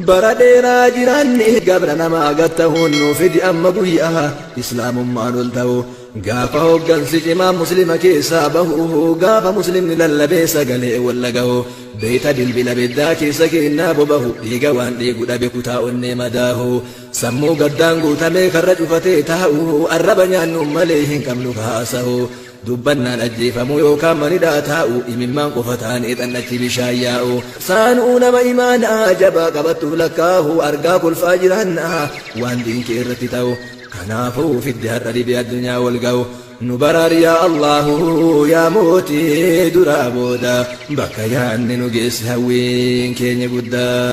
Bara dheeraa jiraanne gabra namaa gad tahuun nuu fidi amma guyyaa Islaamummaan ol tahu Gaafa hoggansi cimaan Muslima keessaa bahu Gaafa Muslimni lallabee sagalee wal dhagahu Beeyta bilbila beddaa keessa keennaa bobahu Dhiiga waan dhiigu dhabe kutaa onnee madaahu Sammuu gaddaan guutamee karra cufatee taa'u Arraba nyaannuun malee hin qabnu ka haasahu Dubbannaan ajjeefamuu yookaan manidhaa taa'uu imimmaan qofa taanee xannachi bishaan yaa'u. Saanuu nama imaanaa jabaa qabattuuf lakkaahu argaa kolfaa jiraannaa waan diin kee irratti ta'u. Kanaafuu fiddi har'a dhibee addunyaa wal ga'u. Nu baraari yaa Allaahu yaa mootii duraa booda bakka yaanne nu geessi hawwiin keenya guddaa.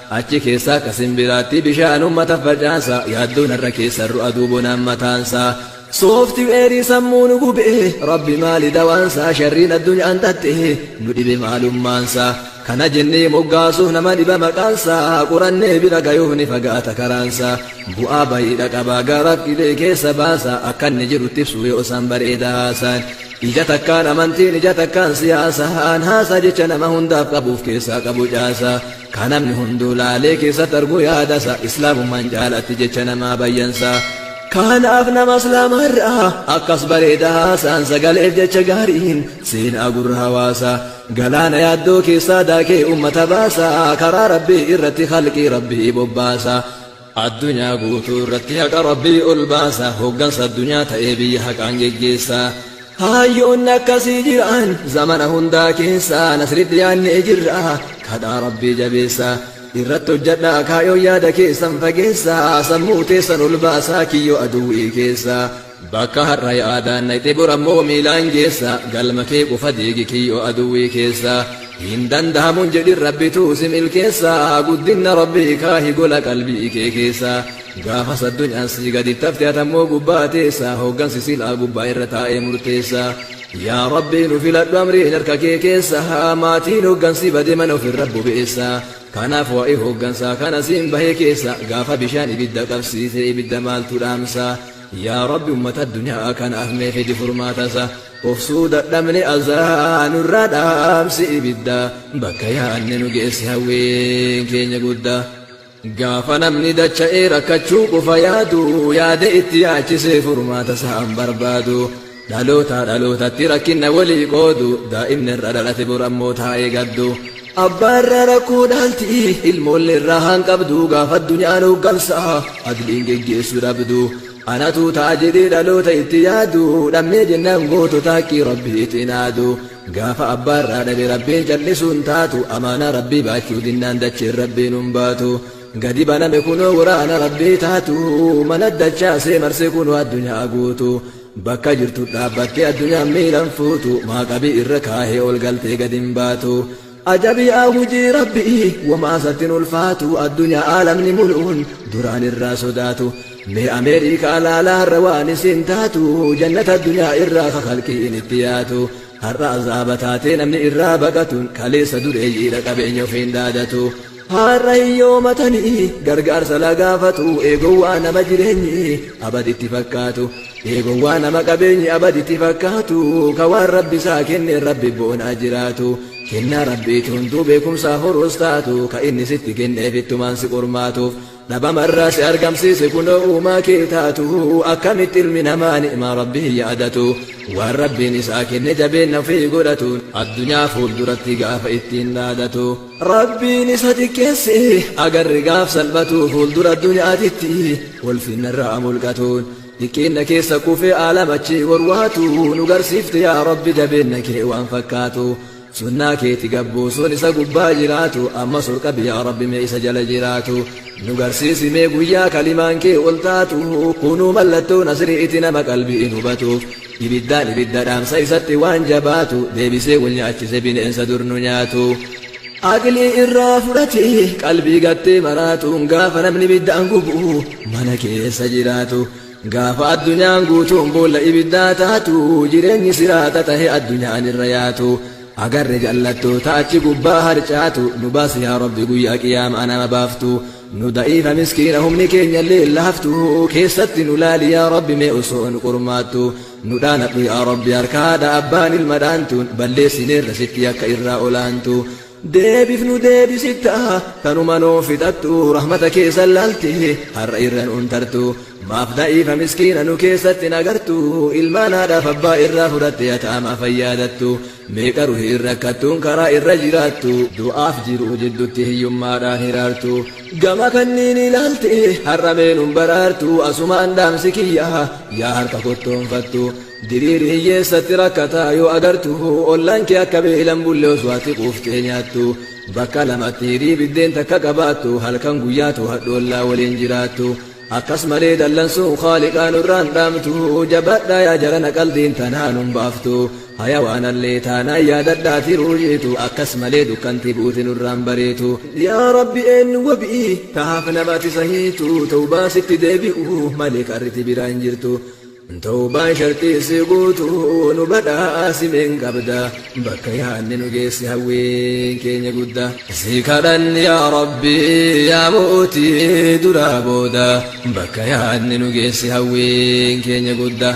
Achi keessaa ka simbiraatti bishaan ummata facaasa yaaddoo narra keessa ru'a duubonaan mataansaa. Sooftiweerii sammuu nu gube rabbi maali dawaansaa sharriin addunyaan xaxxe nu dhibe maalummaansaa. Kana jennee moggaasuuf nama dhiba maqaansaa qorannee bira gayuuf ni fagaata karaansaa. Bu'aa bayiidha qabaa gara qilee keessa baasa akka inni jirutti ibsuu yoo isaan bareeda haasaan. Ija takkaan amantiin ija takkaan siyaasaan haasaa jecha nama hundaaf qabuuf keessaa qabu caasaa. Ka namni hunduu laalee keessatti argu yaadasa Islaamummaan jaalatti jecha namaa bayyansa. Kanaaf nama Islaamaarraa akkas bareeda haasaan sagaleef jecha gaariin seenaa gurra hawaasa. Galaana yaaddoo keessaa daakee ummata baasa karaa Rabbii irratti khalqii Rabbii bobbaasa. Addunyaa guutuu irratti haqa Rabbii ol baasa, hoggansa addunyaa ta'ee biyya haqaan geggeessa. Hayyoonni akkasii jiran zamana hundaa keessa, nasritti dhiyaannee jirra, kadhaa Rabbii jabeessa. Irratti hojjadhaa kaayoon yaada keessan fageessa, sammuu teessan ol baasaa kiyyoo aduwwii keessa. Bakka har'a yaadaan dhayxe bor ammoo miilaan geessa Galma kee qofa diigi kiyyoo aduwwii keessa Hin dandahamu hin jedhin Rabbitu si milkeessa Guddinna Rabbii kaahi gola qalbii kee keessa Gaafas addunyaan sii gadi tafte atammoo gubbaa teessa Hoggansi silaa gubbaa irra taa'ee murteessa Yaa Rabbii nu filadhu amriin harka kee keessa Maatiin hoggansi bade mana ofirra bobeessa Kanaaf waa'ee hoggansaa kana siin bahee keessa Gaafa bishaan ibidda qabsiise ibidda maaltu dhaamsa Yaa Rabbi ummata addunyaa kanaaf mee fidi furmaata isaa. Of suu dadhabne azaa nurraa dhaamsi ibiddaa. Bakka yaanne nu geessi hawwiin keenya guddaa. Gaafa namni dacha'ee rakkachuu qofa yaadu yaada itti yaachisee furmaata isaan barbaadu. Dhalootaa dhalootatti rakkinna walii qoodu Daa'imni irra dhalate bor ammoo taa'ee gaddu Abbaa irraa rakkoo dhaalti ilmoolle irraa haan qabdu Gaafa addunyaan hooggansa adliin geggeessu dhabdu Anatu ta'a jedhee dhaloota itti yaadu Dhabnee jennaan gootota haqqii rabbi itti naadu Gaafa abbaa irraa dhabe rabbiin callisu hin taatu Amaanaa rabbii baachuu dinnaan dacheen rabbiin hin baatu Gadi baname kunoo waraana rabbii taatu Mana dachaasee marse kunoo addunyaa guutu Bakka jirtu dhaabbattee addunyaan miilan fuutu maa qabii irra kaahee ol galtee gad hin baatu Ajabi'aa hujii rabbi'ii womaa isatti hin ulfaatu addunyaa aalamni mulu'uun duraan irraa sodaatu Mee Ameerikaa laalaa har'a waan isiin taatu jannata addunyaa irraa ka khalqiin itti yaatu Har'a azaaba taatee namni irraa baqatuun kaleessa dureeyyiidha qabeenya ofiin dhaadatu Har'a hiyyoomatanii gargaarsa la gaafatu ee gowwaa nama jireenyi abad itti fakkaatu ee gowwaa nama qabeenyi abad itti fakkaatu ka waan rabbi isaa kenneen rabbi boonaa jiraatu kennaa rabbiiti hunduu beekumsaa horuus taatu ka inni sitti kenneef ittumaan si qormaatuuf Dhabamarraa si argamsiise kunoo uumaa kee taatu Akkamitti ilmi namaa ni'maa Rabbii hin yaadatu Waan Rabbiin isaa kenne jabeenna ofii godhatu Addunyaa fuulduratti gaafa ittiin dhaadatu Rabbiin isa xiqqeesse agarre gaaf salphatu Fuuldura addunyaatitti ulfinnarraa mulqatuun Xiqqeenna keessa kufee aalam achii warwaatu Nu garsiifte yaa Rabbi jabeenna kee waan fakkaatu Sunnaa keeti gabbuusuun isa gubbaa jiraatu ammas ol qabi yaa rabbi mee isa jala jiraatu nu garsiisi mee guyyaa kalimaan kee ol taatu kunuu mallattoo nasri'iti nama qalbiin hubatuuf ibiddaan ibidda dhaamsa isatti waan jabaatu deebisee wal nyaachise bineensa dur nu nyaatu aqlii irraa fudhatee qalbii gattee maraatuun gaafa namni ibiddaan gubu mana keessa jiraatu Gaafa addunyaan guutuun boolla ibiddaa taatu, jireenyi siraata tahe addunyaan irra yaatu, agarre jallattoota achi gubbaa harcaatu, nu baasi yaa Rabbi guyyaa qiyaama'aa nama baaftu, nu da'iifa miskiina humni keenyallee laaftu, keessatti nu laali yaa Rabbi mee osoo nu qormaattu, nu dhaanadhu yaa Rabbi harka haadha abbaan ilma dhaantuun, balleessineerra sitti yakka irraa olaantu. Deebif nu deebisitta tanuma nuu fixattu rahmata kee san laalte har'a irra nuun tartu maaf da'iifa miskiina nu keessatti hin agartu ilmaan haadhaaf abbaa irraa fudhatte yataamaa fayyaadattu meeqa ruhiin rakkattuun karaa irra jiraattu du'aaf jiruu jiddutti hiyyummaadhaan hiraartu gama kanniinii laalte har'a mee nun baraartu asumaan dhaamsi kiyya yaa harka kottoonfattu Diriiri hiyyeessatti rakkataa yoo agartu ollaan kee akka beelan bulle osoo ati quuftee nyaattu bakka lamatti hirii biddeen takka qabaattu halkan guyyaa to'adhu ollaa waliin jiraattu akkas malee dallansuun khaaliqaa nurraan dhaamtu jabadhaa yaa jarana qaldiin tanaan hin baaftu hayawaanallee taanaan yaadadhaa tiruu jiitu akkas malee dukkanti buuti nurraan bariitu yaa rabbi eenyu wabii tahaaf namati sahiitu tawbaa sitti deebi'u malee karriti biraa hin jirtu Tawbaan sharxii isii guutu nu badhaasi mee hin qabda bakka yaanne nu geessi hawwiin keenya gudda si kadhanni yaa rabbi yaa mootii duraa booda bakka yaanne nu geessi hawwiin keenya gudda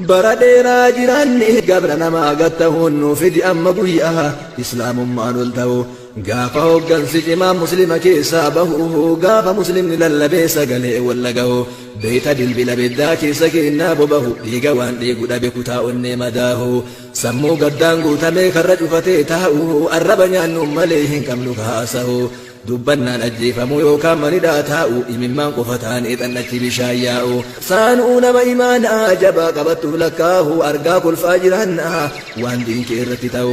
bara dheeraa jiraanni gabra namaa gattahuun nu fidi amma guyyaa islaamummaan ol ta'u Gaafa hoggansi cimaan muslima keessaa bahu Gaafa muslimni lallabee sagalee wal dhagahu Beeyta bilbila beddaa keessa keennaa bobahu Dhiiga waan dhiigu dhabe kutaa onnee madaahu Sammuu gaddaan guutamee karra cufatee taa'u Arraba nyaannuun malee hin qabnu ka haasahu Dubbannaan ajjeefamuu yookaan manidhaa taa'u Imimmaan qofa taanee xannachi bishaan yaa'u Saanuu nama imaanaa jabaa qabattuuf lakkaahu Argaa kolfaa jiraannaa waan diin kee irratti ta'u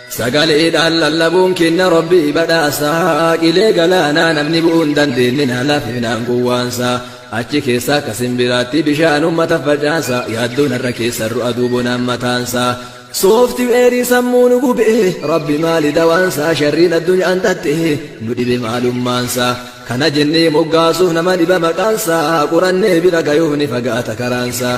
Sagaleedhaan lallabuun kenna Rabbii badhaasaa Qilee galaanaa namni bu'uu hin dandeenye na lafinaan gowwaansaa Achi keessa akka simbiraatti bishaan uummata facaasa Yaaddoon har'a keessa irru aduu bonaan mataansaa Soofti weerii sammuu nu gubee Rabbi maali dawaansaa Sharriin addunyaan tattee nu dhibe maalummaansaa Kana jennee moggaasuuf nama dhiba maqaansaa Qorannee bira gayuuf ni fagaata karaansaa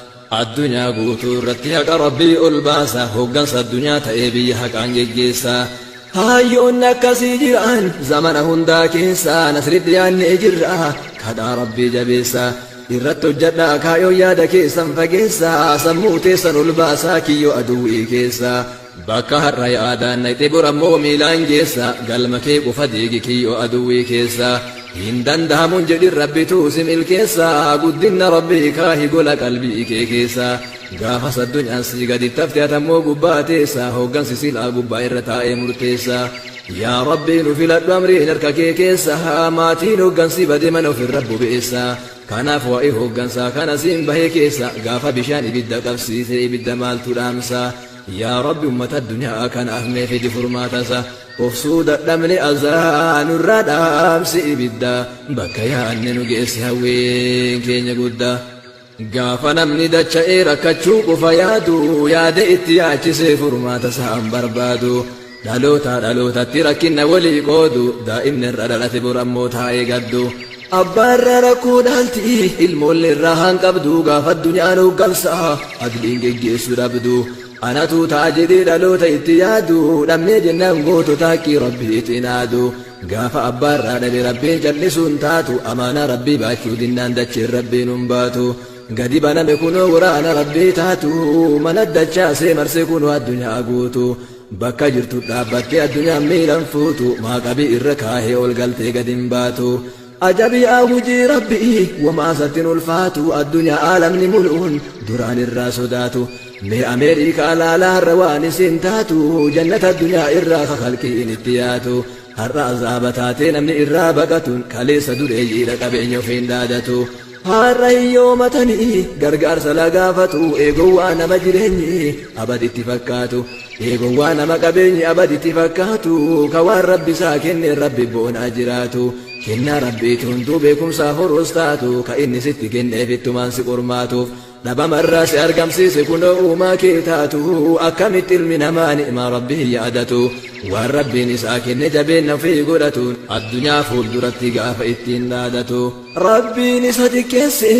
Addunyaa guutuu irratti haqa Rabbii ol baasa, hoggansa addunyaa ta'ee biyya haqaan geggeessa. Hayyoonni akkasii jiran zamana hundaa keessa, nasritti dhiyaannee jirra, kadhaa Rabbii jabeessa. Irratti hojjadhaa kaayoon yaada keessan fageessa, sammuu teessan ol baasaa kiyyoo aduwwii keessa. Bakka har'a yaadaan dhaqxe bor ammoo miilaan geessa galma kee qofa diigi kiyyoo aduwwii keessa hin danda'amuun jedhin rabbitu si milkeessa guddinna rabbii kaahi gola qalbii kee keessa gaafas addunyaan sii gadi tafte atammoo gubbaa teessa hooggansi silaa gubbaa irra taa'ee murteessa yaa rabbii nu filadhu amriin harka kee keessa maatiin hooggansi bade mana ofirra bobeessa kanaaf waa'ee hooggansaa kana siin bahee keessa gaafa bishaan ibidda qabsiise ibidda maaltu dhaamsa Yaa Rabbi ummata addunyaa kanaaf mee fidi furmaata isaa. Of suu dadhabne azaa nurraa dhaamsi ibidda. Bakka yaanne nu geessi hawwiin keenya guddaa. Gaafa namni dacha'ee rakkachuu qofa yaadu yaada itti yaachisee furmaata isaan barbaadu. Dhalootaa dhalootatti rakkinna wolii qoodu Daa'imni irra dhalate bor ammoo taa'ee gaddu Abbaa irraa rakkoo dhaalti ilmoolle irraa haan qabdu Gaafa addunyaan hooggansa adliin geggeessu dhabdu Anatu ta'a jedhee dhaloota itti yaadu Dhabnee jennaan gootota haqqii Rabbii itti naadu Gaafa abbaa irraa dhabe Rabbiin callisuu hin taatu Amaanaa Rabbii baachuu dinnaan dacheen Rabbiin hin baatu Gadi baname kunoo waraana Rabbii taatu Mana dachaasee marse kunoo addunyaa guutu Bakka jirtu dhaabbattee addunyaan miilan fuutu maa qabii irra kaahee ol galtee gad hin baatu Ajabi'aa hujii rabbi'i wamaa isatti hin ulfaatu addunyaa aalamni mul'uun duraan irraa sodaatu Mee Ameerikaa laalaa har'a waan isin taatu jannata addunyaa irraa ka kalqiin itti yaatu Har'a azaaba taatee namni irraa baqatuun kaleessa dureeyyiidha qabeenya ofiin dhaadatu Har'a hiyyoomatanii gargaarsa lagaafatu ee gowwaa nama jireenyi abad itti fakkaatu ee gowwaa nama qabeenyi abad itti fakkaatu ka waan rabbi isaa kenneen rabbi boonaa jiraatu kennaa rabbiiti hunduu beekumsaa horuus taatu ka inni sitti kenneef ittumaan si qormaatuuf Dhabamarraa si argamsiise kunoo uumaa kee taatu Akkamitti ilmi namaa ni'maa Rabbi hin yaadatu Waan Rabbiin isaa kenne jabeenna ofii godhatu Addunyaa fuulduratti gaafa ittiin dhaadatu Rabbiin isa xiqqeesse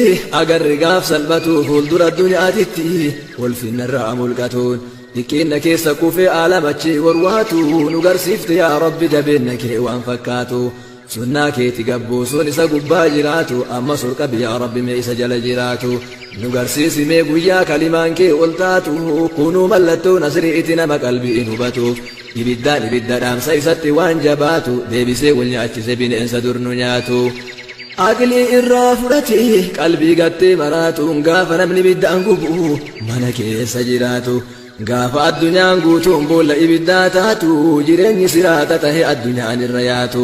agarre gaaf salphatu Fuuldura addunyaatitti ulfinnarraa mulqatuun Xiqqeenna keessa kufee aalama achii warwaatu Nu garsiifte yaa Rabbi jabeenna kee waan fakkaatu Sunnaa keeti gabbuusuun isa gubbaa jiraatu ammas ol qabi yaa rabbi mee isa jala jiraatu nu garsiisi mee guyyaa kalimaan kee ol taatu kunuu mallattoo nasri'iti nama qalbiin hubatuuf ibiddaan ibidda dhaamsa isatti waan jabaatu deebisee wal nyaachise bineensa dur nu nyaatu aqlii irraa fudhatee qalbii gattee maraatuun gaafa namni ibiddaan gubu mana keessa jiraatu Gaafa addunyaan guutuun boolla ibiddaa taatu, jireenyi siraata tahe addunyaan irra yaatu,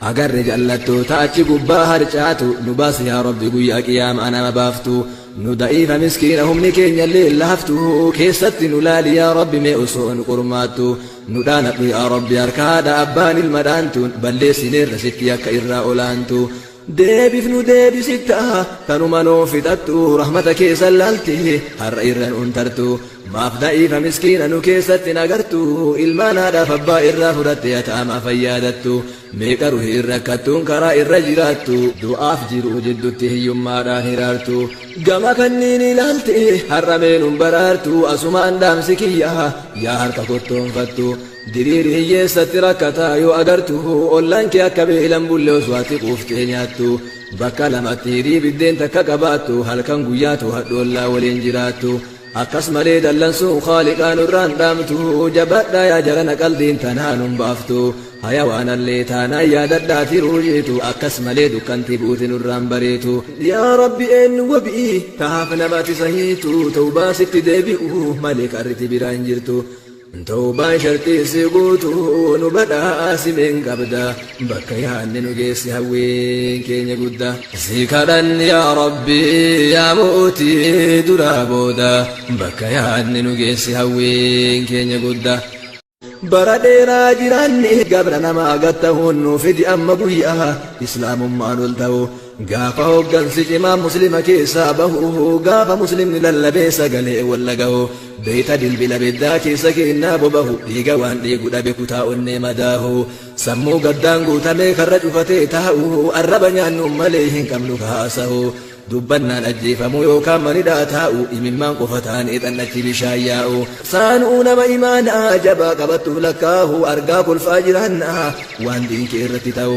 agarre jallattoota achi gubbaa harcaatu, nu baasi yaa Rabbi guyyaa qiyaama'aa nama baaftu, nu da'iifa miskiina humni keenyallee laaftu, keessatti nu laali yaa Rabbi mee osoo nu qormaattu, nu dhaanadhu yaa Rabbi harka haadha abbaan ilma dhaantuun, balleessineerra sitti yakka irraa olaantu. Deebif nu deebisitta tanuma nuu fixattu rahmata kee san laalti har'a irra nuun tartu maaf da'iifa miskiina nu keessatti hin agartu ilmaan haadhaaf abbaa irraa fudhatte yataamaa fayyaadattu meeqa ruhiin rakkattuun karaa irra jiraattu du'aaf jiruu jiddutti hiyyummaadhaan hiraartu gama kanniini laalti har'a mee nun baraartu asumaan dhaamsi kiyya yaa harka kottoonfattu Diriiri hiyyeessatti rakkataa yoo agartu ollaan kee akka beelan bulle osoo ati quuftee nyaattu bakka lamatti hirii biddeen takka qabaattu halkan guyyaa to'adhu ollaa waliin jiraattu akkas malee dallansuun khaaliqaa nurraan dhaamtu jabaadhaa yaa jarana qaldiin tanaan hin baaftu hayawaanallee taanaan yaadadhaa tiruu jiitu akkas malee dukkanti buuti nurraan bareetu yaa rabbi eennu wabii tahaaf namati sahiitu tawbaa sitti deebi'u malee qarriti biraa hin jirtu Tawbaan sharxii isii guutu nu badhaasi mee hin qabda bakka yaanne nu geessi hawwiin keenya gudda si kadhanni yaa rabbi yaa mootii duraa booda bakka yaanne nu geessi hawwiin keenya gudda bara dheeraa jiraanne gabra namaa gad tahuun nu fidi amma guyyaa islaamummaan ol tahu Gaafa hoggansi cimaan muslima keessaa bahu Gaafa muslimni lallabee sagalee wal dhagahu Beeyta bilbila beddaa keessa keennaa bobahu Dhiiga waan dhiigu dhabe kutaa onnee madaahu Sammuu gaddaan guutamee karra cufatee taa'u Arraba nyaannuun malee hin qabnu ka haasahu Dubbannaan ajjeefamuu yookaan manidhaa taa'u Imimmaan qofa taanee xannachi bishaan yaa'u Saanuu nama imaanaa jabaa qabattuuf lakkaahu Argaa kolfaa jiraannaa waan diin kee irratti ta'u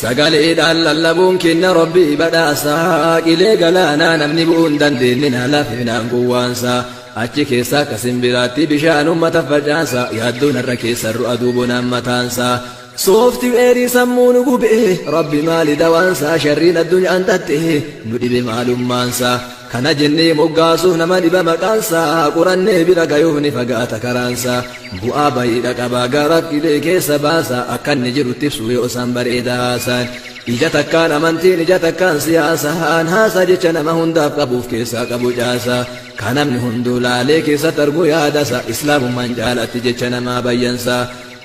Sagaleedhaan lallabuun kenna Rabbii badhaasaa Qilee galaanaa namni bu'uu hin dandeenye na laafinaan gowwaansaa Achi keessaa akka simbiraatti bishaan uummata facaasaa Yaaddoo narra keessarru aduu bonaan mataansaa Sooftiweerii sammuu nu gubee Rabbi maali dawaansaa Sharriin addunyaan xaxxee nu dhibe maalummaansaa Kana jennee moggaasuuf nama dhiba maqaansaa, qorannee bira gayuuf ni fagaata karaansaa. Bu'aa bayiidha qaba gaaraaf dhibee keessa baasa, akka inni jirutti ibsuu yoo isaan bareeda haasaan. Ija takkaan amantiin ija takkaan siyaasaan, haasaa jecha nama hundaaf qabu of keessaa qabu caasa. Ka namni hunduu laalee keessatti argu yaadasa, islaamummaan caalatti jecha namaa bayyansa.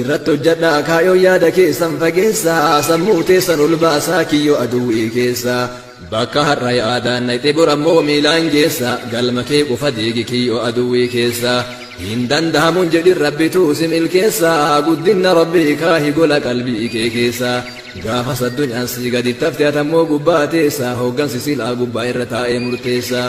Irratti hojjadhaa kaayoo yaada keessan fageessaa Sammuu teessan ol baasaa kiyyoo aduwwii keessaa Bakka har'a yaadaan dhayxe bor ammoo miilaan geessaa Galma kee qofa diigi kiyyoo aduwwii keessaa Hin dandahamu hin jedhin rabbituu si milkeessaa Guddinna rabbii kaahi gola qalbii kee keessaa Gaafas addunyaan sii gadi tafte atammoo gubbaa teessaa Hooggansi silaa gubbaa irra taa'ee murteessaa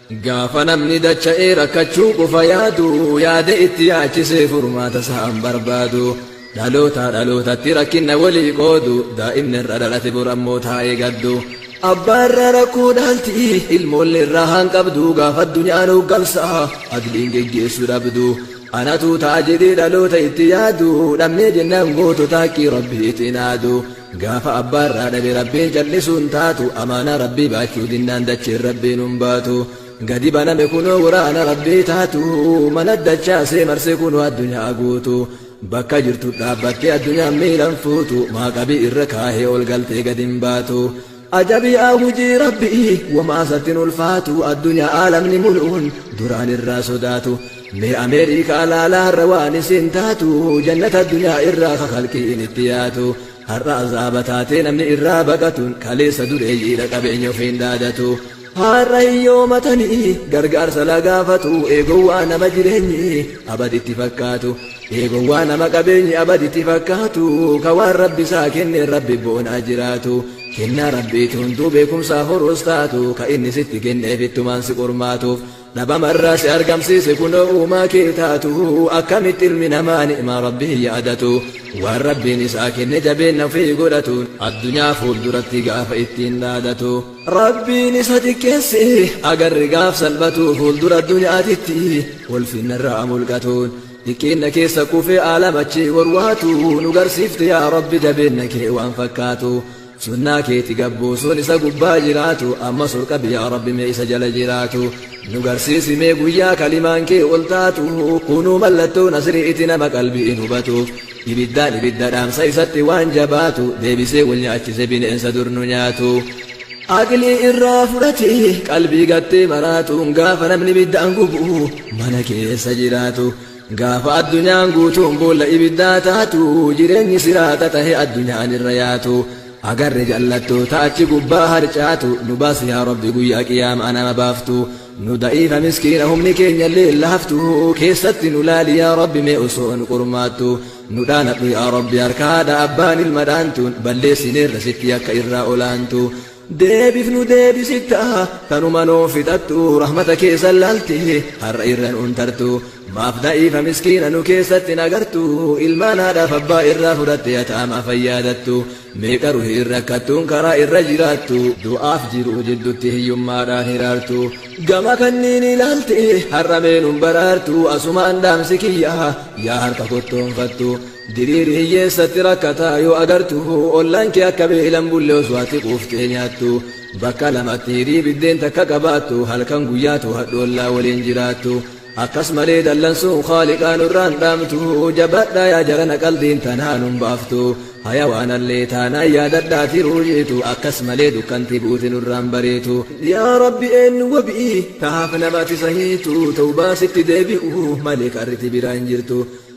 Gaafa namni dacha'ee rakkachuu qofa yaadu, yaada itti yaachisee furmaata isaa hin barbaadu. Dhalootaa dhalootatti rakkinna walii qoodu, daa'imni irra dhalate bor ammoo taa'ee gaddu. Abbaa irraa rakkoo dhaalti, ilmoollee irraa hanqabdu, gaafa addunyaan hooggansa adliin geggeessu dhabdu. Anatu ta'a jedhee dhaloota itti yaadu, dhabnee jennaan gootota haqqii Rabbiitiin aadu. Gaafa abbaa irraa dhabe Rabbiin callisuu hin taatu Amaanaa Rabbii baachuu dinnaan dachiin Rabbiin hin baatu Gadi baname kunoo waraana Rabbii taatu Mana dachaasee marse kunoo addunyaa guutu Bakka jirtu dhaabbattee addunyaan miilan fuutu Maaqabii irra kaahee ol galtee gad hin baatu Ajabi'aa hujii Rabbi'i womaa isatti hin ulfaatu Addunyaa aalamni mulu'uun duraan irraa sodaatu Mee Ameerikaa laalaa har'a waan isiin taatu Jannata addunyaa irraa ka khalqi'iin itti yaatu Har'a azaaba taatee namni irraa baqatuun Kaleessa dureeyyiidha qabeenya ofiin dhaadatu Har'a hiyyoomatanii gargaarsa la gaafatu ee gowwaa nama jireenyi abad itti fakkaatu ee gowwaa nama qabeenyi abad itti fakkaatu ka waan rabbi isaa kenneen rabbi boonaa jiraatu kennaa rabbiiti hunduu beekumsaa horuus taatu ka inni sitti kenneef ittumaan si qormaatuuf Dhabama irraa si argamsiise kunoo uumaa kee taatu Akkamitti ilmi namaa ni'maa Rabbii hin yaadatu Waan Rabbiin isaa kenne jabeenna ofii godhatu Addunyaa fuulduratti gaafa ittiin dhaadatu Rabbiin isa xiqqeesse agarre gaaf salphatu Fuuldura addunyaatitti ulfinna irraa mulqatuun Xiqqeenna keessa kufee aalam achii warwaatu Nu garsiifte yaa Rabbi jabeenna kee waan fakkaatu Sunnaa keeti gabbuusuun isa gubbaa jiraatu ammas ol qabi yaa Rabbi mee isa jala jiraatu nu garsiisi mee guyyaa kalimaan kee ol taatu kunuu mallattoo nasri'iti nama qalbiin hubatuuf ibiddaan ibidda dhaamsa isatti waan jabaatu deebisee wal nyaachise bineensa dur nu nyaatu aqlii irraa fudhatee qalbii gattee maraatuun gaafa namni ibiddaan gubu mana keessa jiraatu Gaafa addunyaan guutuun boolla ibiddaa taatu, jireenyi siraata tahe addunyaan irra yaatu, agarre jallattoota achi gubbaa harcaatu, nu baasi yaa Rabbi guyyaa qiyaama'aa nama baaftu, nu da'iifa miskiina humni keenyallee hin laaftu, keessatti nu laali yaa Rabbi mee osoo nu qormaattu, nu dhaanadhu yaa Rabbi harka haadha abbaan ilma dhaantuun, balleessineerra sitti yakka irraa olaantu. Deebif nu deebisitta tanuma nuuf fixattu rahmata kee san laalte har'a irra nuun tartu maaf da'iifa miskiina nu keessatti hin agartu ilmaan haadhaaf abbaa irraa fudhatte yataamaa fayyaadattu meeqa ruhiin rakkattuun karaa irra jiraattu du'aaf jiruu jiddutti hiyyummaadhaan hiraartu gama kanniinii laalte har'a mee nun baraartu asumaan dhaamsi kiyya yaa harka kottoonfattu Diriiri hiyyeessatti rakkataa yoo agartu ollaan kee akka beelan bulle osoo ati quuftee nyaattu bakka lamatti hirii biddeen takka qabaattu halkan guyyaa to'adhu ollaa waliin jiraattu akkas malee dallansuun khaaliqaa nurraan dhaamtu jabadhaa yaa jarana qaldiin tanaan hin baaftu hayawaanallee taanaan yaadadhaa tiruu jiitu akkas malee dukkanti buute nurraan bariitu yaa rabbi eennu wabii tahaaf namati sahiitu tawbaa sitti deebi'u malee karriti biraa hin jirtu